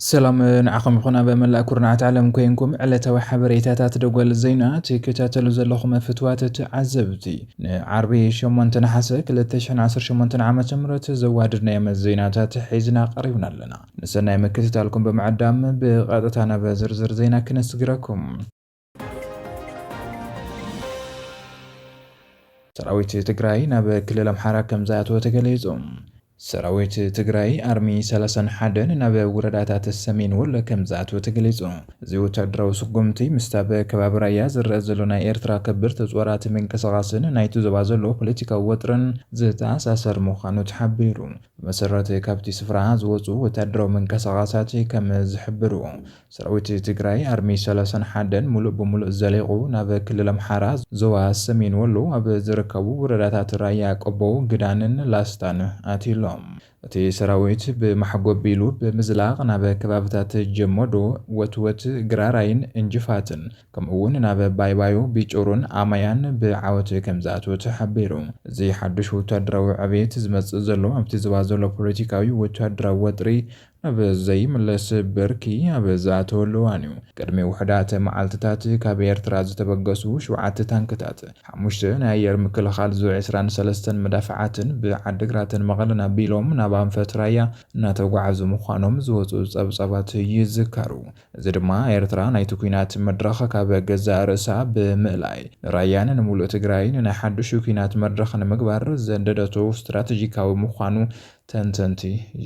ሰላም ንዓኹም ይኹን ኣብ መላእ ኩርናዓት ዓለም ኮይንኩም ዕለታዊ ሓበሬታታት ደጎል ዜና ትከታተሉ ዘለኹም ፍትዋት ተዓዘብቲ ንዓርቢ 8 ነሓሰ 2018 ዓ ም ዘዋድድናዮም ዜናታት ሒዝና ቀሪብና ኣለና ንሰናይ ምክትታልኩም ብምዕዳም ብቐጥታ ናብ ዝርዝር ዜና ክነስግረኩም። ሰራዊት ትግራይ ናብ ክልል ኣምሓራ ከምዝኣተወ ተገሊጹ። ሰራዊት ትግራይ ኣርሚ ሰላሳን ሓደን ናብ ወረዳታት ሰሜን ወሎ ከም ዝኣትወ ተገሊጹ። እዚ ወታደራዊ ስጉምቲ ምስቲ ኣብ ከባቢ ራያ ዝረኣ ዘሎ ናይ ኤርትራ ከበድቲ ጾራት ምንቅስቓስን ናይቲ ዞባ ዘሎ ፖለቲካዊ ወጥርን ዝተኣሳሰር ምዃኑ ተሓቢሩ። ብመሰረት ካብቲ ስፍራ ዝወፅኡ ወታደራዊ ምንቅስቓሳት ከም ዝሕብርዎ፣ ሰራዊት ትግራይ ኣርሚ ሰላሳን ሓደን ሙሉእ ብሙሉእ ዘሊቑ ናብ ክልል ኣምሓራ ዞባ ሰሜን ወሎ ኣብ ዝርከቡ ወረዳታት ራያ ቆቦ፣ ግዳንን ላስታን ኣትዩ ኣሎ። እቲ ሰራዊት ብማሕጎ ቢሉ ብምዝላቕ ናብ ከባብታት ጀሞዶ፣ ወትወት፣ ግራራይን እንጅፋትን ከምኡ'ውን ናብ ባይባዩ፣ ቢጩሩን ኣማያን ብዓወት ከምዝኣትወ ተሓቢሩ። እዚ ሓድሽ ወተሃደራዊ ዕብየት፣ ዝመጽእ ዘሎ ኣብቲ ዞባ ዘሎ ፖለቲካዊ ወተሃደራዊ ወጥሪ ናብ ዘይምለስ ብርኪ ኣብ ዝኣተወሉ እዋን'ዩ። ቅድሚ ውሑዳት መዓልትታት፣ ካብ ኤርትራ ዝተበገሱ ሸውዓተ ታንክታት፣ ሓሙሽተ ናይ ኣየር ምክልኻል ዙ ዕስራን ሰለስተን መዳፍዓትን ብዓዲግራትን መቐለን ኣቢሎም ናብ ኣንፈት ራያ እናተጓዕዙ ምዃኖም ዝወጽኡ ጸብጻባት ይዝከሩ። እዚ ድማ ኤርትራ ናይቲ ኲናት መድረኽ ካብ ገዛእ ርእሳ ብምእላይ፣ ንራያን ንምሉእ ትግራይን ናይ ሓዱሽ ኲናት መድረኽ ንምግባር ዘንደደቶ ስትራተጂካዊ ምዃኑ ተንተንቲ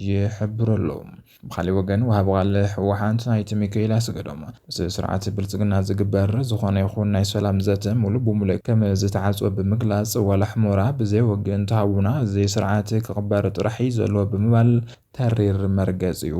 ይሕብሩ ኣለዉ። ብኻሊእ ወገን ወሃቢ ቃል ህወሓት ኣይተ ሚካኤል ኣስገዶም ምስ ስርዓት ብልፅግና ዝግበር ዝኾነ ይኹን ናይ ሰላም ዘተ ሙሉእ ብሙሉእ ከምዝተዓፅወ ብምግላፅ ዋላ ሕሞራ ብዘይ ወግእን ተሃቡና እዚ ስርዓት ክቕበር ጥራሕ እዩ ዘለዎ ብምባል ተሪር መርገጺኡ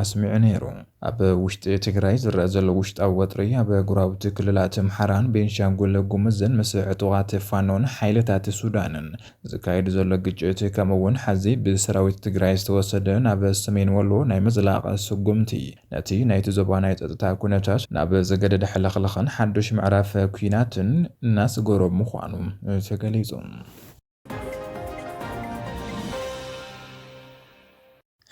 ኣስሚዑ ነይሩ። ኣብ ውሽጢ ትግራይ ዝረኣ ዘሎ ውሽጣዊ ወጥሪ፣ ኣብ ጎረባብቲ ክልላት ኣምሓራን ቤንሻንጉል ጉምዝን ምስ ዕጡቓት ፋኖን ሓይልታት ሱዳንን ዝካየድ ዘሎ ግጭት ከምኡ እውን ሐዚ ብሰራዊት ትግራይ ዝተወሰደ ናብ ሰሜን ወሎ ናይ ምዝላቕ ስጉምቲ ነቲ ናይቲ ዞባ ናይ ፀጥታ ኩነታት ናብ ዝገደደ ሕልኽልኽን ሓዱሽ ምዕራፍ ኲናትን እናስገሮ ምዃኑ ተገሊፁ።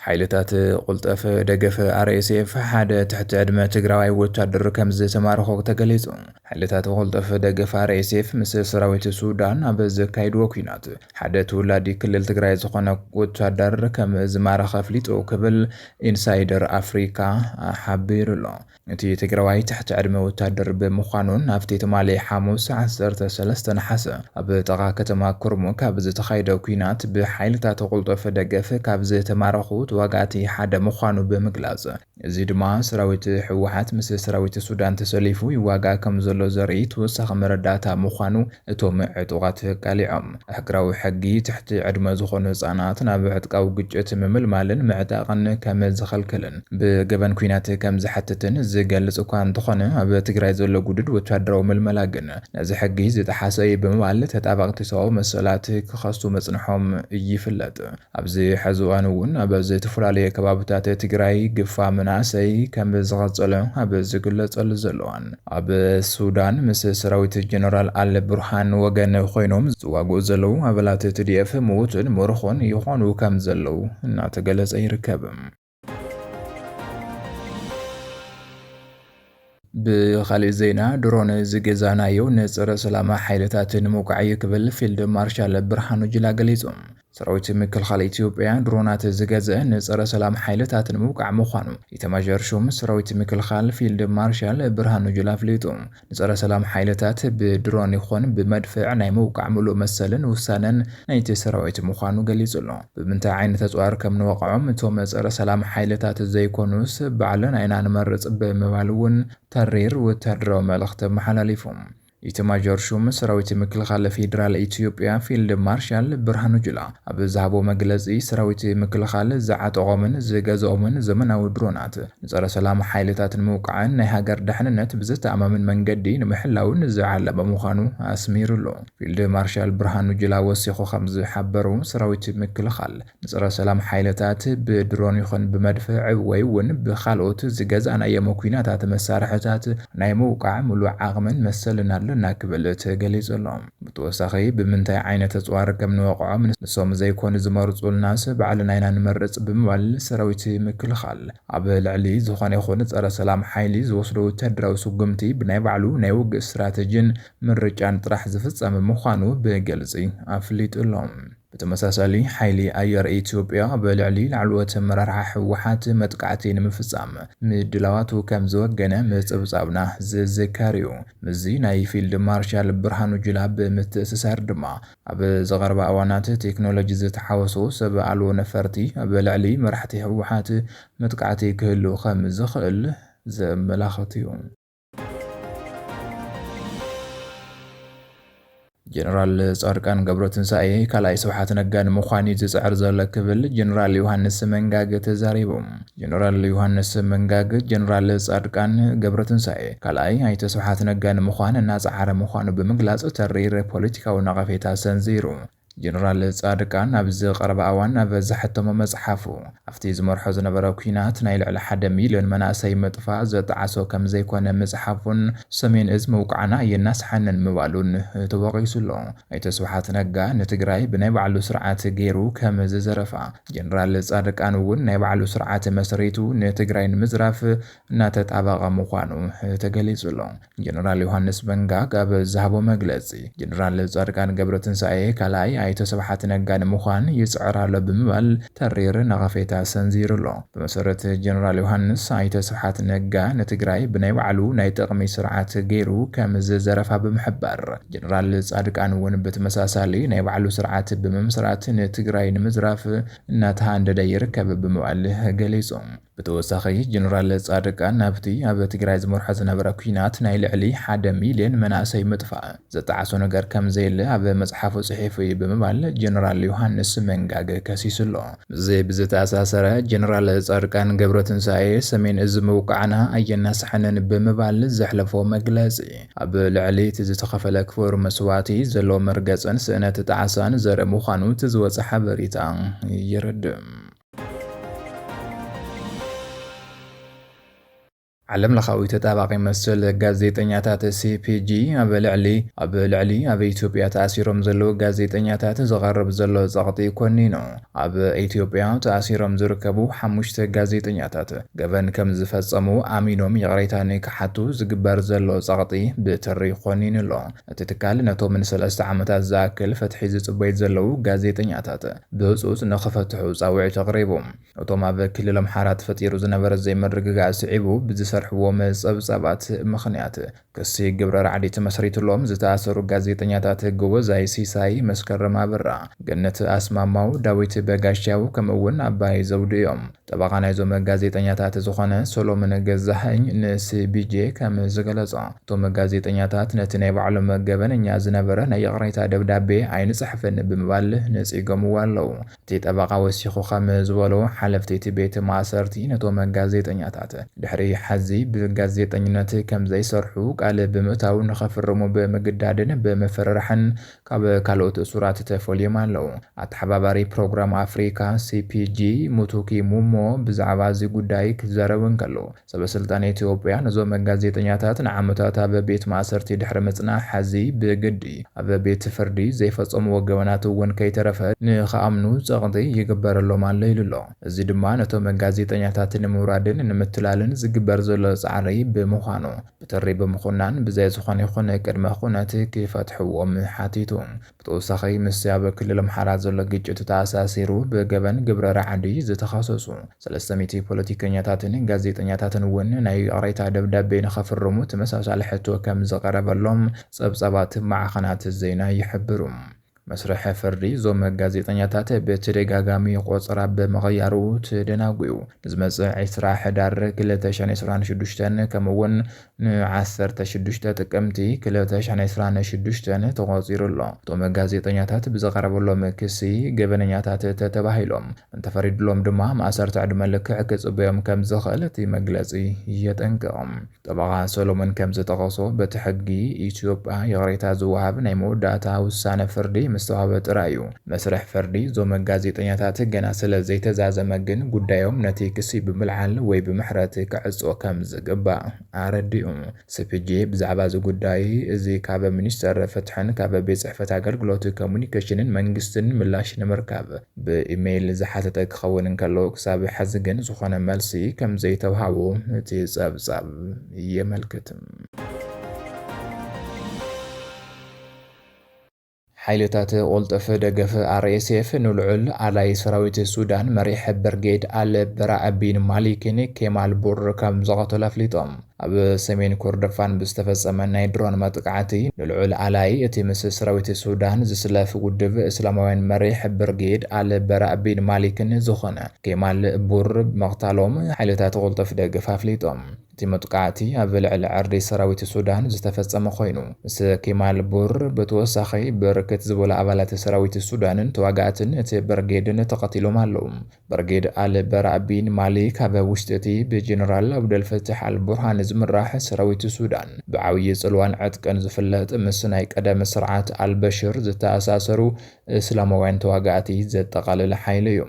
ሓይልታት ቁልጠፍ ደገፈ ኣርኤስኤፍ ሓደ ትሕቲ ዕድመ ትግራዋይ ወታደር ከም ዝተማረኾ ተገሊጹ። ሓይልታት ቁልጠፍ ደገፈ ኣርኤስኤፍ ምስ ሰራዊት ሱዳን ኣብ ዘካይድዎ ኩናት ሓደ ተወላዲ ክልል ትግራይ ዝኾነ ወታደር ከም ዝማረኸ ኣፍሊጡ ክብል ኢንሳይደር ኣፍሪካ ሓቢሩ ኣሎ። እቲ ትግራዋይ ትሕቲ ዕድመ ወታደር ብምዃኑ ናብቲ ትማሊ ሓሙስ ዓሰርተ ሰለስተ ነሓሰ ኣብ ጥቓ ከተማ ኩርሙክ ኣብ ዝተኻየደ ኲናት ብሓይልታት ቅልጡፍ ደገፍ ካብ ዝተማረኹ ተዋጋእቲ ሓደ ምዃኑ ብምግላፅ እዚ ድማ ሰራዊት ህወሓት ምስ ሰራዊት ሱዳን ተሰሊፉ ይዋጋእ ከምዘሎ ዘርኢ ተወሳኺ መረዳእታ ምዃኑ እቶም ዕጡቓት ቀሊዖም፣ ኣህግራዊ ሕጊ ትሕቲ ዕድመ ዝኾኑ ህጻናት ናብ ዕጥቃዊ ግጭት ምምልማልን ምዕጣቕን ከም ዝኸልክልን ብገበን ኲናት ከም ዝሓትትን ዝገልጽ እኳ እንተኾነ፣ ኣብ ትግራይ ዘሎ ግዱድ ወተሃደራዊ ምልመላ ግን ነዚ ሕጊ ዝጠሓሰ እዩ ብምባል ተጣበቕቲ ሰባዊ መሰላት ክኸሱ ምጽንሖም ይፍለጥ። ኣብዚ ሐዚ እዋን እውን ኣብ ዝተፈላለየ ከባብታት ትግራይ ግፋ መናእሰይ ከም ዝቐፀለ ኣብ ዝግለፀሉ ዘሎ እዋን ኣብ ሱዳን ምስ ሰራዊት ጀነራል ኣል ቡርሃን ወገን ኾይኖም ዝዋግኡ ዘለዉ ኣባላት ትዲኤፍ ምዉትን ምርኾን ይኾኑ ከም ዘለዉ እናተገለፀ ይርከብ። ብኻሊእ ዜና ድሮን ዝገዛእናዮ ንፀረ ሰላም ሓይልታት ንምውቃዕ እዩ ክብል ፊልድ ማርሻል ብርሃኑ ጁላ ገሊፁ። ሰራዊት ምክልኻል ኢትዮጵያ ድሮናት ዝገዝአ ንፀረ ሰላም ሓይልታት ንምውቃዕ ምዃኑ ኢታማዦር ሹም ሰራዊት ምክልኻል ፊልድ ማርሻል ብርሃኑ ጁላ ኣፍሊጡ። ንጸረ ሰላም ሓይልታት ብድሮን ይኹን ብመድፍዕ ናይ ምውቃዕ ምሉእ መሰልን ውሳነን ናይቲ ሰራዊት ምዃኑ ገሊጹ ኣሎ። ብምንታይ ዓይነት ኣጽዋር ከም ንወቕዖም እቶም ጸረ ሰላም ሓይልታት ዘይኮኑስ ባዕልና ኢና ንመርጽ ብምባል እውን ተሪር ወተሃደራዊ መልእኽቲ ኣመሓላሊፉ። ኢታማዦር ሹም ሰራዊት ምክልኻል ፌዴራል ኢትዮጵያ ፊልድ ማርሻል ብርሃኑ ጁላ፣ ኣብ ዝሃቦ መግለጺ፣ ሰራዊት ምክልኻል ዝዓጠቖምን ዝገዘኦምን ዘመናዊ ድሮናት፣ ንጸረ ሰላም ሓይልታት ንምውቃዕን ናይ ሃገር ደሕንነት ብዘተኣማምን መንገዲ ንምሕላውን ዝዓለመ ምዃኑ ኣስሚርሉ። ፊልድ ማርሻል ብርሃኑ ጁላ ወሲኹ ከም ዝሓበሩ፣ ሰራዊት ምክልኻል፣ ንጸረ ሰላም ሓይልታት ብድሮን ይኹን ብመድፍዕ ወይ እውን ብኻልኦት ዝገዛእናዮም ኲናታት መሳርሕታት ናይ ምውቃዕ ምሉእ ዓቕምን መሰልን ኣለና ክብል ተገሊጹ ኣሎ። ብተወሳኺ ብምንታይ ዓይነት ኣፅዋር ከም ንወቕዖም ንሶም ዘይኮኑ ዝመርፁልናስ ባዕልና ኢና ንመርፅ ብምባል ሰራዊት ምክልኻል ኣብ ልዕሊ ዝኾነ ይኹን ፀረ ሰላም ሓይሊ ዝወስዶ ወታደራዊ ስጉምቲ ብናይ ባዕሉ ናይ ውግእ ስትራተጂን ምርጫን ጥራሕ ዝፍፀም ምዃኑ ብግልፂ ኣፍሊጡ ኣሎ። ብተመሳሳሊ ሓይሊ ኣየር ኢትዮጵያ ኣብ ልዕሊ ላዕለዎት ኣመራርሓ ህወሓት መጥቃዕቲ ንምፍፃም ምድላዋቱ ከምዝወገነ ምፅብፃብና ዝዝከር እዩ። ምስዚ ናይ ፊልድ ማርሻል ብርሃኑ ጁላ ብምትእስሳር ድማ ኣብ ዝቐርባ እዋናት ቴክኖሎጂ ዝተሓወሶ ሰብ ኣልቦ ነፈርቲ ኣብ ልዕሊ መራሕቲ ህወሓት መጥቃዕቲ ክህሉ ከምዝኽእል ዘመላኽት እዩ። ጀነራል ፃድቃን ገብረትንሳኤ ካልኣይ ስብሓት ነጋ ንምዃን እዩ ዝፅዕር ዘሎ ክብል ጀነራል ዮሃንስ መንጋግ ተዛሪቡ። ጀነራል ዮሃንስ መንጋግ ጀነራል ፃድቃን ገብረትንሳኤ ካልኣይ ኣይተ ስብሓት ነጋ ንምዃን እናፀዓረ ምዃኑ ብምግላፅ ተሪር ፖለቲካዊ ነቐፌታ ሰንዚሩ። ጀነራል ጻድቃን ኣብዚ ቀረባ ኣዋን ኣብ ዘሐተሞ መጽሓፉ፣ ኣብቲ ዝመርሖ ዝነበረ ኲናት ናይ ልዕሊ ሓደ ሚልዮን መናእሰይ ምጥፋእ ዝጠዓሶ ከምዘይኮነ ምጽሓፉን ሰሜን እዝ ምውቃዕና ኣየናስሓንን ምባሉን ተወቒሱ ኣሎ። ኣይተ ስብሓት ነጋ ንትግራይ ብናይ ባዕሉ ስርዓት ገይሩ ከም ዝዘረፋ፣ ጀነራል ጻድቃን እውን ናይ ባዕሉ ስርዓት መስሪቱ ንትግራይ ንምዝራፍ እናተጣበቐ ምዃኑ ተገሊጹ ኣሎ። ጀነራል ዮሃንስ በንጋግ ኣብ ዝሃቦ መግለፂ፣ ጀነራል ፃድቃን ገብረትንሳኤ ካልኣይ ኣይተ ስብሓት ነጋ ንምዃን ይፅዕር ኣሎ ብምባል ተሪር ነቐፌታ ሰንዚሩ'ሎ። ብመሰረት ጀነራል ዮሃንስ፣ ኣይተ ስብሓት ነጋ ንትግራይ ብናይ ባዕሉ ናይ ጥቕሚ ስርዓት ገይሩ ከም ዝዘረፋ ብምሕባር፣ ጀነራል ፃድቃን እውን ብተመሳሳሊ ናይ ባዕሉ ስርዓት ብምምስራት ንትግራይ ንምዝራፍ እናተሃንደደ ይርከብ ብምባል ገሊፁ። ብተወሳኺ ጀነራል ፃድቃን ናብቲ ኣብ ትግራይ ዝመርሖ ዝነበረ ኲናት ናይ ልዕሊ ሓደ ሚልየን መናእሰይ ምጥፋእ ዝጠዓሶ ነገር ከምዘየለ ኣብ መፅሓፉ ፅሒፉ እዩ ብምባል ጀነራል ዮሃንስ መንጋግ ከሲሱ ኣሎ። ምስዚ ብዝተኣሳሰረ ጀነራል ፃድቃን ገብረትንሳኤ ሰሜን እዝ ምውቃዕና ኣየናስሐንን ብምባል ዘሕለፎ መግለፂ ኣብ ልዕሊ እቲ ዝተኸፈለ ክቡር መስዋእቲ ዘሎ መርገፅን ስእነት ጣዕሳን ዘርኢ ምዃኑ እቲ ዝወፀ ሓበሬታ የረድእ። ዓለም ለኻዊ ተጣባቒ መሰል ጋዜጠኛታት ሲፒጂ ኣብ ልዕሊ ኣብ ልዕሊ ኣብ ኢትዮጵያ ተኣሲሮም ዘለዉ ጋዜጠኛታት ዝቐርብ ዘሎ ጸቕጢ ኮኒኑ ኣብ ኢትዮጵያ ተኣሲሮም ዝርከቡ ሓሙሽተ ጋዜጠኛታት ገበን ከም ዝፈጸሙ ኣሚኖም ይቕሬታ ንክሓቱ ዝግበር ዘሎ ጸቕጢ ብትሪ ኮኒኑ ኣሎ። እቲ ትካል ነቶም ንሰለስተ ዓመታት ዝኣክል ፍትሒ ዝጽበዩ ዘለዉ ጋዜጠኛታት ብህጹጽ ንኽፈትሑ ጻውዒት ኣቕሪቡ። እቶም ኣብ ክልል ኣምሓራ ተፈጢሩ ዝነበረ ዘይምርግጋእ ስዒቡ ብዝሰርሕዎ ጸብጻባት ምኽንያት ክሲ ግብረ ራዕዲ ተመስሪትሎም ዝተኣሰሩ ጋዜጠኛታት ጎበዛይ ሲሳይ፣ መስከረም ኣበራ፣ ገነት ኣስማማው፣ ዳዊት በጋሻው ከምኡ'ውን ኣባይ ዘውዱ እዮም። ጠበቓ ናይዞም ጋዜጠኛታት ዝኾነ ሰሎምን ገዛሀኝ ንሲቢጄ ከም ዝገለፆ እቶም ጋዜጠኛታት ነቲ ናይ ባዕሎም ገበነኛ ዝነበረ ናይ ይቕሬታ ደብዳቤ ኣይንፅሕፍን ብምባል ነፂጎምዎ ኣለው። እቲ ጠበቓ ወሲኹ ከም ዝበሎ ሓለፍቲ እቲ ቤት ማእሰርቲ ነቶም ጋዜጠኛታት ድሕሪ ሐዚ ብጋዜጠኝነት ከም ዘይሰርሑ ቃል ብምእታው ንኸፍርሙ ብምግዳድን ብምፍርራሕን ካብ ካልኦት እሱራት ተፈልዮም ኣለዉ። ኣተሓባባሪ ፕሮግራም ኣፍሪካ፣ CPG፣ ሙቱኪ ሙሞ ብዛዕባ እዚ ጉዳይ ክዛረብ እንከሎ፣ ሰበስልጣን ኢትዮጵያ ነዞም ጋዜጠኛታት ንዓመታት ኣብ ቤት ማእሰርቲ ድሕሪ ምጽናሕ ሐዚ ብግዲ ኣብ ቤት ፍርዲ ዘይፈጸምዎ ገበናት እውን ከይተረፈ ንክኣምኑ ጸቕጢ ይግበረሎም ኣሎ ኢሉ ኣሎ። እዚ ድማ ነቶም ጋዜጠኛታት ንምውራድን ንምትላልን ዝግበር ዘሎ ጻዕሪ ብምዃኑ ብትሪ ብምኹናን ብዘይ ዝኾነ ይኹን ቅድመ ኩነት ክፈትሕዎ ሓቲቱ። ብተወሳኺ ምስቲ ኣብ ክልል ኣምሓራ ዘሎ ግጭት ተኣሳሲሩ ብገበን ግብረ ራዕዲ ዝተኸሰሱ ሰለስተ ሚእቲ ፖለቲከኛታትን ጋዜጠኛታትን እውን ናይ ይቕሬታ ደብዳቤ ንኸፍርሙ ተመሳሳሊ ሕቶ ከምዝቐረበሎም ፀብፃባት ማዕኸናት ዜና ይሕብሩ። መስርሕ ፍርዲ እዞም ጋዜጠኛታት ብተደጋጋሚ ቆጸራ ብምቕያሩ ተደናጉዩ። ንዝመጽእ ዕስራ ሕዳር ክልተ ሽሕን ዕስራን ሽዱሽተን ከምኡ'ውን ን ዓሰርተ ሽዱሽተ ጥቅምቲ ክልተ ሽሕን ዕስራን ሽዱሽተን ተቖጺሩ ኣሎ። እቶም ጋዜጠኛታት ብዝቐረበሎም ክሲ ገበነኛታት ተተባሂሎም እንተፈሪድሎም ድማ ማእሰርቲ ዕድመ ልክዕ ክጽበዮም ከምዝኽእል እቲ መግለጺ የጠንቅቕ። ጠበቓ ሰሎሞን ከም ዝጠቐሶ፣ በቲ ሕጊ ኢትዮጵያ ይቕሬታ ዝወሃብ ናይ መወዳእታ ውሳነ ፍርዲ ምስ ተዋህበ ጥራይ እዩ። መስርሕ ፍርዲ እዞም ጋዜጠኛታት ገና ስለ ዘይተዛዘመ ግን ጉዳዮም ነቲ ክሲ ብምልዓል ወይ ብምሕረት ክዕጾ ከም ዝግባእ ኣረዲኡ። ሲፒጄ ብዛዕባ እዚ ጉዳይ እዚ ካብ ሚኒስተር ፍትሕን ካብ ቤት ጽሕፈት ኣገልግሎት ኮሙዩኒኬሽንን መንግስትን ምላሽ ንምርካብ ብኢመይል ዝሓተተ ክኸውን እንከሎ፣ ክሳብ ሕዚ ግን ዝኾነ መልሲ ከምዘይተውሃቦ እቲ ጸብጻብ የመልክት። ሓይልታት ቁልጡፍ ደገፍ ኣርኤስኤፍ ንልዑል ኣላይ ሰራዊት ሱዳን መሪሕ በርጌድ ኣል በራእ ቢን ማሊኪን ኬማል ቡር ከምዝቐተሉ ኣፍሊጦም። ኣብ ሰሜን ኮርዶፋን ብዝተፈጸመ ናይ ድሮን መጥቃዕቲ፣ ንልዑል ኣላዪ እቲ ምስ ሰራዊት ሱዳን ዝስለፍ ውድብ እስላማውያን መሪሕ ብርጌድ ኣል በራእ ቢን ማሊክን ዝኾነ ኬማል ቡር ምቕታሎም ሓይልታት ቅልጡፍ ደገፍ ኣፍሊጦም። እቲ መጥቃዕቲ ኣብ ልዕሊ ዕርዲ ሰራዊት ሱዳን ዝተፈጸመ ኮይኑ፣ ምስ ኬማል ቡር ብተወሳኺ ብርክት ዝበሉ ኣባላት ሰራዊት ሱዳንን ተዋጋእትን እቲ ብርጌድን ተቐቲሎም ኣለዉ። ብርጌድ ኣል በራእ ቢን ማሊክ ካብ ውሽጢ እቲ ብጀነራል ኣብደልፈታሕ ኣል ቡርሃን ዝምራሕ ሰራዊት ሱዳን ብዓብዪ ፅልዋን ዕጥቅን ዝፍለጥ ምስ ናይ ቀደም ስርዓት ኣል በሽር ዝተኣሳሰሩ እስላማውያን ተዋጋእቲ ዘጠቓለለ ሓይሊ እዩ።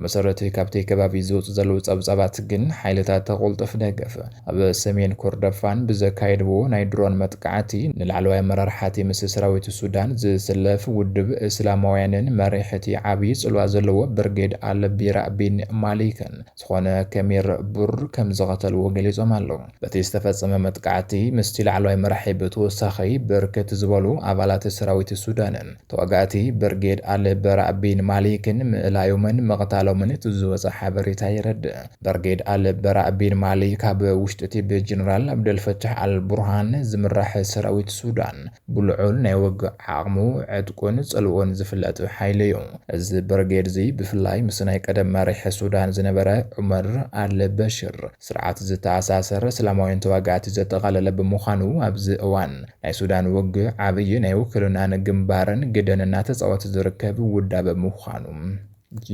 ብመሰረት ካብቲ ከባቢ ዝወፁ ዘለዉ ፀብፃባት ግን ሓይልታት ቁልጡፍ ደገፍ ኣብ ሰሜን ኮርደፋን ብዘካየድዎ ናይ ድሮን መጥቃዕቲ ንላዕለዋይ ኣመራርሓ'ቲ ምስ ሰራዊት ሱዳን ዝስለፍ ውድብ እስላማውያንን መሪሕ'ቲ ዓብዪ ጽልዋ ዘለዎ ብርጌድ ኣል-ቢራእ ቢን ማሊክን ዝኾነ ከሚር ቡር ከምዝቐተልዎ ገሊጾም ኣለው። በቲ ዝተፈጸመ መጥቃዕቲ ምስቲ ላዕለዋይ መራሒ ብተወሳኺ ብርክት ዝበሉ ኣባላት ሰራዊት ሱዳንን ተዋጋእቲ ብርጌድ ኣል-በራእ ቢን ማሊክን ምእላዮምን ምቕታሎምን እቲ ዝወጸ ሓበሬታ የረድእ። በርጌድ ኣል በራእ ቢን ማሊክ ካብ ውሽጢ'ቲ ብጀነራል ኣብደልፈታሕ ኣል ቡርሃን ዝምራሕ ሰራዊት ሱዳን ብልዑል ናይ ውግእ ዓቕሙ፣ ዕጥቁን ጽልኡን ዝፍለጥ ሓይሊ'ዩ። እዚ በርጌድ'ዚ ብፍላይ ምስ ናይ ቀደም መሪሕ ሱዳን ዝነበረ ዑመር ኣል በሽር ስርዓት ዝተኣሳሰር እስላማውያን ተዋጋእቲ ዘጠቓለለ ብምዃኑ ኣብዚ እዋን ናይ ሱዳን ውግእ ዓብይ ናይ ውክልናን ግንባርን ግደን እናተጻወተ ዝርከብ ውዳበ ምዃኑ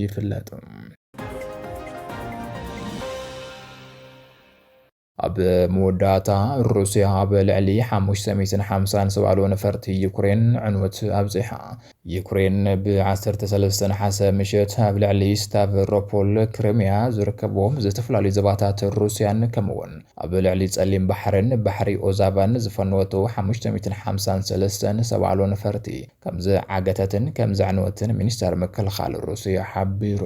ይፍለጥ። ኣብ መወዳእታ ሩስያ ኣብ ልዕሊ 550 ዝባሉ ነፈርቲ ዩክሬን ዕንወት ኣብፂሓ። ዩክሬን ብ13 ነሓሰ ምሸት ኣብ ልዕሊ ስታቨሮፖል ክሪሚያ ዝርከብዎም ዝተፈላለዩ ዘባታት ሩስያን ከምኡውን ኣብ ልዕሊ ጸሊም ባሕርን ባሕሪ ኦዛቫን ዝፈነወቱ 553 ዝባሉ ነፈርቲ ከም ዝዓገተትን ከም ዘዕነወትን ሚኒስተር ምክልኻል ሩስያ ሓቢሩ።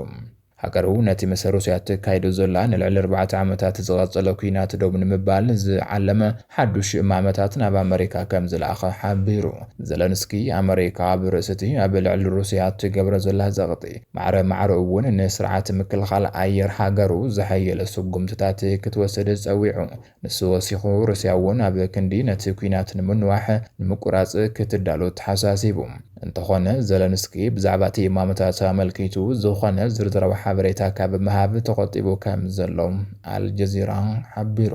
ሃገሩ ነቲ ምስ ሩስያ እተካይዶ ዘላ ንልዕሊ ኣርባዕተ ዓመታት ዝቐጸለ ኲናት ደው ንምባል ዝዓለመ ሓዱሽ እማመታት ናብ ኣመሪካ ከም ዝለኣኸ ሓቢሩ። ዘለንስኪ፣ ኣመሪካ ኣብ ርእሲ'ቲ ኣብ ልዕሊ ሩስያ እትገብሮ ዘላ ጸቕጢ፣ ማዕረ ማዕረኡ'ውን ንስርዓት ምክልኻል ኣየር ሃገሩ ዘሐየለ ስጉምትታት ክትወስድ ጸዊዑ። ንሱ ወሲኹ፣ ሩስያ'ውን ኣብ ክንዲ ነቲ ኲናት ንምንዋሕ፣ ንምቁራጽ ክትዳሎ ኣተሓሳሲቡ። እንተኾነ፣ ዘለንስኪ ብዛዕባ'ቲ እማመታት ኣመልኪቱ ዝኾነ ዝርዝራዊ ሓበሬታ ካብ ምሃብ ተቖጢቡ ከም ዘሎ ኣልጀዚራ ሓቢሩ።